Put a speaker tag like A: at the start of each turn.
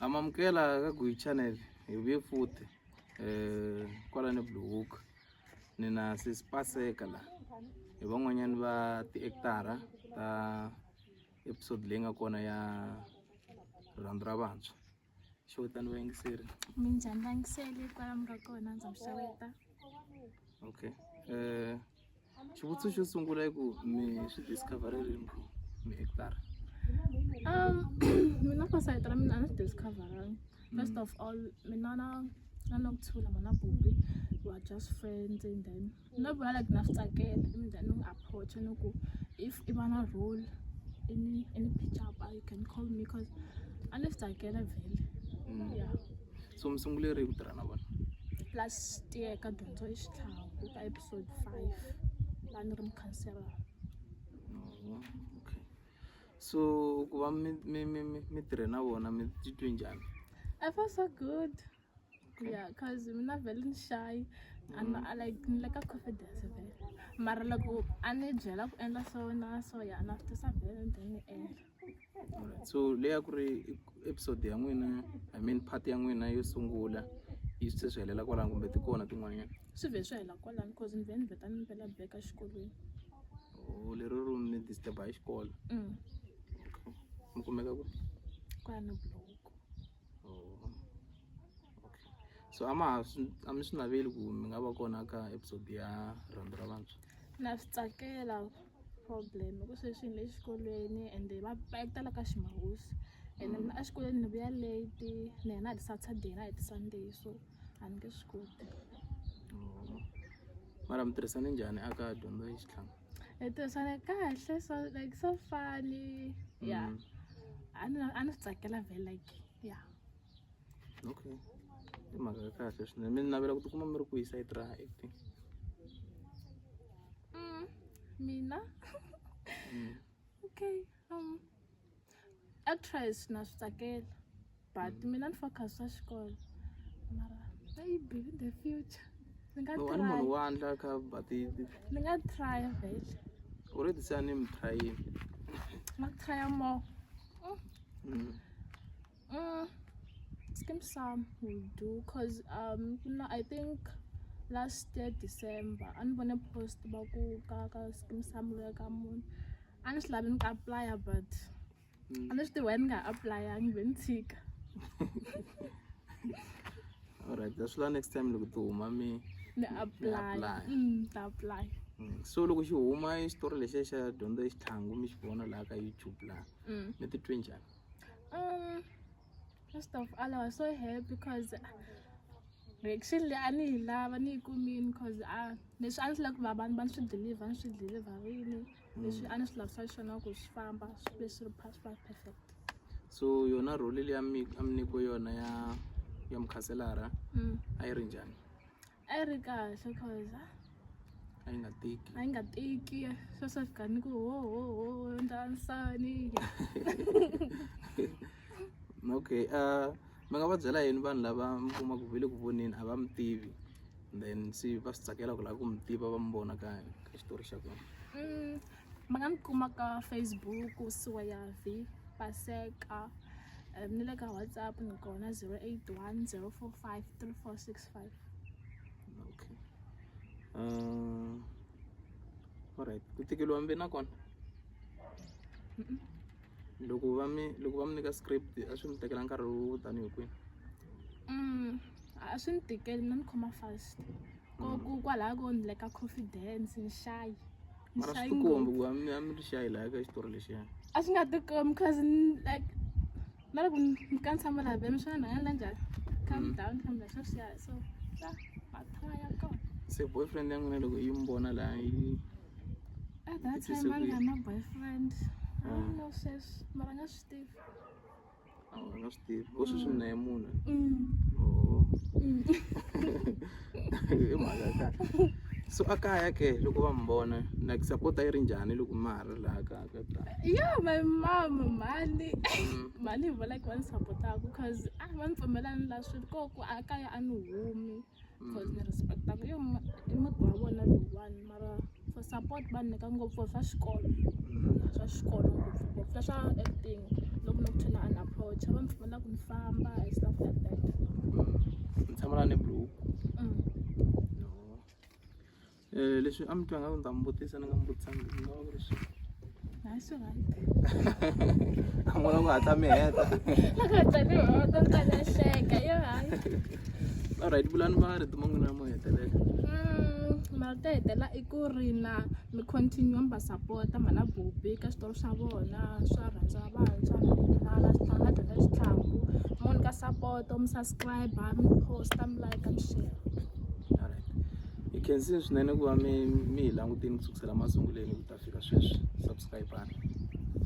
A: amamukela ka Gui channel hi vuye futhi eh kwala ni Blue Hook ni na sisipaseka la hi van'wanyani va ti-actara ta episode leyi nga kona ya rhandi ra vantshwa xo vitani vayingiseri minjhani vayingiseli
B: kwala mi nga kona ndza mi xeweta
A: okay eh xivutiso xo sungula i ku mi swi discover-e rini ku mi hekitara Um,
B: mina for side ra mina a ni swi discoveranga first of all mina na na nokuthula mana bubi we are just friends and then no vula like na swi tsakela and then u approach ni ku if i va na role any any pitch up you can call me cause a ni swi tsakela vhele yeah so mi sunguleri
A: hi ku tirha na vona last
B: year ka dyondzo ya xitlhangu ka episode five la ni ri mukhansela okay
A: so ku va mi mi mi mi mi tirhe na vona mi titwe njhani i feel so
B: good yeah cause mina vele ni shy and mm. like ni leka confidence vele mara loko a ni byela ku endla so na so ya na fitisa vele ni ta ni endla so
A: leyi a ku ri episode ya n'wina I mean part ya n'wina yo sungula yi se swi helela kwalano kumbe ti kona tin'wanyana swi vhe swi hela
B: kwalano cause ni vhe ni vheta ni mpela back exikolweni o oh,
A: lero ro ni disturba hi xikolo mm. okay mi kumeka ku kwala na
B: buloko
A: oh. okay so a ma ha a mi swi naveli ku mi nga va kona ka episode ya rhandi ra vantshwa na swi tsakela
B: problem ku sweswi ni le xikolweni and va va tala ka ximawusi and mm. mina exikolweni ni vuya late ni hena hi ti-saturday na hi ti-sunday so a ni nge swi koti
A: oh. mara mi tirhisane njhani aka dyondzo ya xitlhanga hi tirhisana
B: kahle so like so funny yeah mm. a ni a ni swi tsakela vele like yeah
A: okay i mhaka ya kahle swinene mi ni navela ku tikuma mi ri ku yisa yi tirha acting
B: mm, mina mm. okay um actress na swi tsakela but mm. mina ni focus swa xikolo mara maybe in the future ni nga try munhu wa ndla ka
A: but ni nga
B: try vele u ri tisa
A: ni mi tryini ma
B: try more mm. Mm, skim some will do cause um kuna i think last year december a ni vone post va ku ka ka skim some lo ya ka munhu a ni swi lavi ni ka applya but mm. a ni swi tiwa ni nga applyangi ve ni tshika
A: alright that's why next time loko ti huma mi ni apply
B: mm, ta apply Mm. so loko xi
A: huma xitori lexiya xa dyondzo exitlhangu mi xi vona laha ka youtube laha mm. mi titwe njhani um
B: first of all i was so happy because reaction leyi a ni yi lava ni yi kumini cause a ah, leswi a ni swi lava ku va vanhu va ni swi deliver ni swi deliverini leswi a ni swi lavisa xona ku swi famba swi ve swi ri passport perfect so
A: yona role leyi a mi nyikiwe yona ya ya mukhanselara mm. a yi ri njhani a yi ri
B: kahle cause a yi
A: nga tiki a yi nga tiki swo swa fika ni ku
B: ho ho ho endla nsani
A: okay uh mi nga va byela yini vanhu lava mi kumaka ve le ku voneni a va mi tivi then se va swi tsakela ku lava ku mi tiva va mi vona ka ka xitori xa kona mm. mi
B: nga ni kuma ka facebook siwa ya v paseka um ni le ka whatsapp ni kona 081 045 3465 okay
A: um alright ku tikeliwa mbe na kona loko va mi loko va mi nyika script a swi mi tekela nkarhi wo tanihi kwihi mm,
B: a swi ni tikeli mina ni khoma fast ko kwalaho ko ni le ka confidence nxayi mara swi
A: tikombi ku a mi a mi ri xayi laha ka xitori lexiya a swi nga tikombi
B: cause like na loko mi ka ni tshama laha beni swi nga ndla njhani calm mm. down calm down swa swi ya so ya mathwa ya kona se boyfriend ya n'wina
A: loko yi mi vona laha yi at that time a ni nga na
B: boyfriend a ni ah. no sweswi mara nga swi tivi a
A: wu nga swi tivi u swi swi mina mune i mhaka ya kahle so a kaya ke loko va mi vona like sapota yi ri njhani loko ma ha ri laha ka ka ta yo my
B: mom mhani mhani hi vula ku va ni sapotaka cause a va ni pfumelani la swi ri koho ku a kaya a ni humi Coz ni respect-a ku yo i muti wa vona lowuwani mara for support va ni nyika ngopfu swa xikolo swa xikolo ngopfungopfu na swa acting loko ni kuthe na an approach-a va ni pfumela ku ni famba and stuff like that
A: ni tshama na ni blue Mm. Leswi a mi twa nga ku ni ta mi vutisa ni nga mi vutisa ni nga va ku ri swi Hayi swi
B: right.
A: a n'wana ku hatla mi heta Hleka yo hayi. alright vulani va ri tuma n'wina mo hetelela Mm,
B: mara to hetelela i ku ri na mi continue mi va sapota mhana bubi ka switori swa vona swa rhandziwa vantshwa mala switlanga dyondza xitlhangu mi n'wi nyika sapoto mi subscribe mi posta mi like mi share alright
A: Hi khensini swinene ku va mi mi hi langutile ku sukusela masungulweni ku ta fika sweswi subscribe-ani.